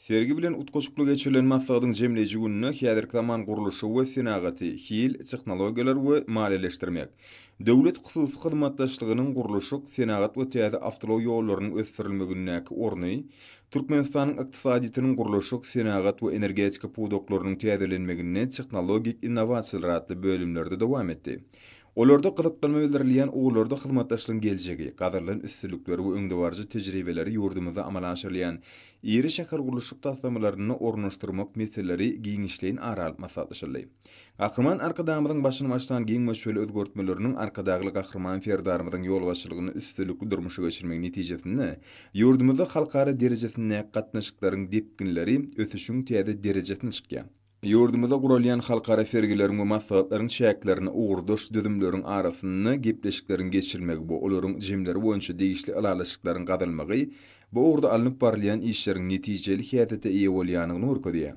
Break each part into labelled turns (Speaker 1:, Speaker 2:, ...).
Speaker 1: Sergi bilen utgaşykly geçirilen maslahatyň jemleýji gününe häzirki zaman gurluşy we senagaty, hil, tehnologiýalar we maliýeleşdirmek, döwlet-hususy hyzmatdaşlygynyň gurluşyk, senagat we täze awtoulag ýollarynyň ösdürilmegindäki orny, Türkmenistanyň ykdysadyýetiniň gurluşyk, senagat we energetika pudaklarynyň täzelenmeginde tehnologik innowasiýalar atly bölümlerde dowam etdi. Olarda gyzyklanma bildirilýän ugurlarda hyzmatdaşlygyň geljegi, gazarylan üstünlikleri we öňdebaryjy tejribeleri ýurdumyzda amala aşyrylýan iri şähergurluşyk taslamalarynda ornaşdyrmak meseleleri giňişleýin ara alyp maslahatlaşyldy. Gahryman Arkadagymyzyň başyny başlan giň möçberli özgertmeleriniň Arkadagly Gahryman Serdarymyzyň ýolbaşçylygynda üstünlikli durmuşa geçirilmegi netijesinde ýurdumyzda halkara derejesindäki gatnaşyklaryň depginleri ösüşiň täze derejesine çykýar. Ýurdumyzda guralýan halkara sergileriň we maslahatlaryň çäklerinde ugurdaş düzümleriň arasynda gepleşikleriň geçirilmegi we olaryň jemleri boýunça degişli ylalaşyklaryň gazanylmagy bu ugurda alnyp barylýan işleriň netijeli häsiýete eýe bolýandygyny görkezýär.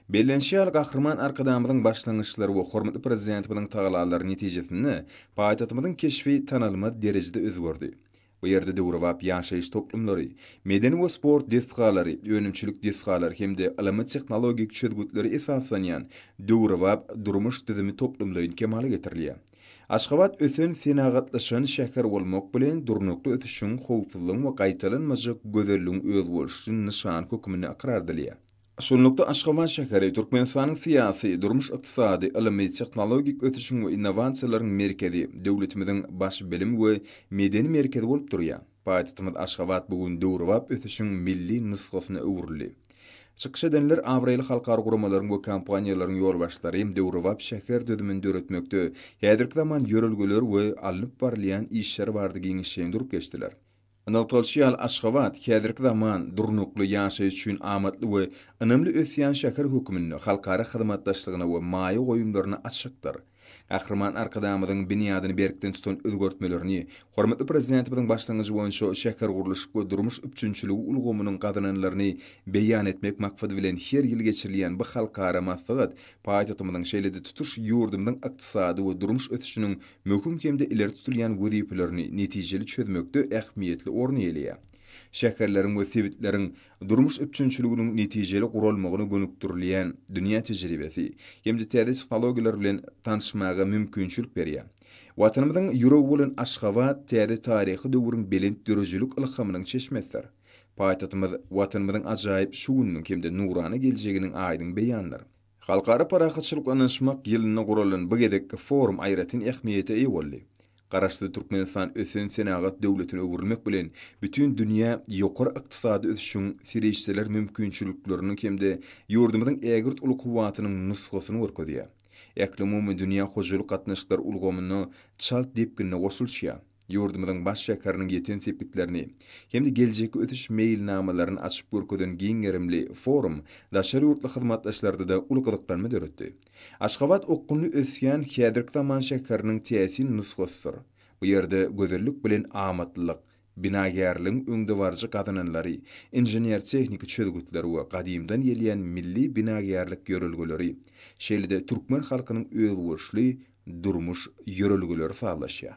Speaker 1: Bellenişi ýaly, Gahryman Arkadagymyzyň başlangyçlary we hormatly Prezidentimiziň tagallalary netijesinde paýtagtymyzyň keşbi tanalmaz derejede özgerdi. Bu ýerde döwrebap ýaşaýyş toplumlary, medeni we sport desgalary, önümçilik desgalary hem-de ylmy-tehnologik çözgütlere esaslanýan döwrebap durmuş düzümi toplumlaýyn kemala getirilýär. Aşgabat ösen, senagatlaşan şäher bolmak bilen, durnukly ösüşiň, howpsuzlygyň we gaýtalanmajak gözelligiň özboluşly nyşany hökmünde ykrar edilýär. Şunlukda, Aşgabat şäheri Türkmenistanyň syýasy, durmuş-ykdysady, ylmy-tehnologik ösüşiň we innowasiýalaryň merkezi, döwletimiziň baş bilim we medeni merkezi bolup durýar. Paýtagtymyz Aşgabat bu gün döwrebap ösüşiň milli nusgasyna öwrüldi. Çykyş edenler abraýly halkara guramalaryň we kompaniýalaryň ýolbaşçylary döwrebap şäher düzümini döretmekde häzirki zaman ýörelgeler we alnyp barylýan işler barada giňişleýin durup geçdiler. Nygtalyşy ýaly, Aşgabat häzirki zaman durnukly ýaşaýyş üçin amatly we ynamly ösýän şäher hökmünde halkara hyzmatdaşlygyna we maýa goýumlaryna açykdyr. Gahryman Arkadagymyzyň binýadyny berkden tutan özgertmelerini, hormatly Prezidentimiziň başlangyjy boýunça şähergurluşyk we durmuş üpjünçiligi ulgamynyň gazananlaryny beýan etmek maksady bilen her ýyl geçirilýän bu halkara maslahat paýtagtymyzyň şeýle-de tutuş ýurdumyzyň ykdysady we durmuş ösüşiniň möhüm hem-de ileri tutulýan wezipelerini netijeli çözmekde ähmiýetli orny eýeleýär. Şäherleriň we sebitleriň durmuş üpjünçiliginiň netijeli guralmagyna gönükdirilýän dünýä tejribesi hem-de täze tehnologiýalar bilen tanyşmaga mümkinçilik berýär. Watanymyzyň ýüregi bolan Aşgabat täze taryhy döwrüň belent döredijilik ylhamynyň çeşmesidir. Paýtagtymyz Watanymyzyň ajaýyp şu gününiň hem-de nurana geljeginiň aýdyň beýanydyr. Halkara parahatçylyk ynanyşmak ýylynda guralan bu gezekki forum aýratyn ähmiýete eýe boldy. Garaşsyz Türkmenistan ösen senagat döwletine öwrülmek bilen, bütin dünýä ýokary ykdysady ösüşiň, serişdeler mümkinçilikleriniň hem-de ýurdumyzyň ägirt uly kuwwatynyň nusgasyny görkezýär. Ählumumy dünýä hojalyk gatnaşyklar ulgamyna çalt depginde goşulyşýar. ýurdumyzyň baş şäheriniň ýeten sepgitlerini hem-de geljekki ösüş meýilnamalaryny açyp görkezen giň gerimli forum daşary ýurtly hyzmatdaşlarda-da uly gyzyklanma döretdi. Aşgabat okgunly ösýän häzirki zaman şäheriniň täsin nusgasydyr. Bu ýerde gözellik bilen amatlylyk, binagärligiň öňdebaryjy gazananlary, inžener-tehniki çözgütler we gadymdan gelýän milli binagärlik ýörelgeleri, şeýle-de türkmen halkynyň özboluşly durmuş ýörelgeleri sazlaşýar.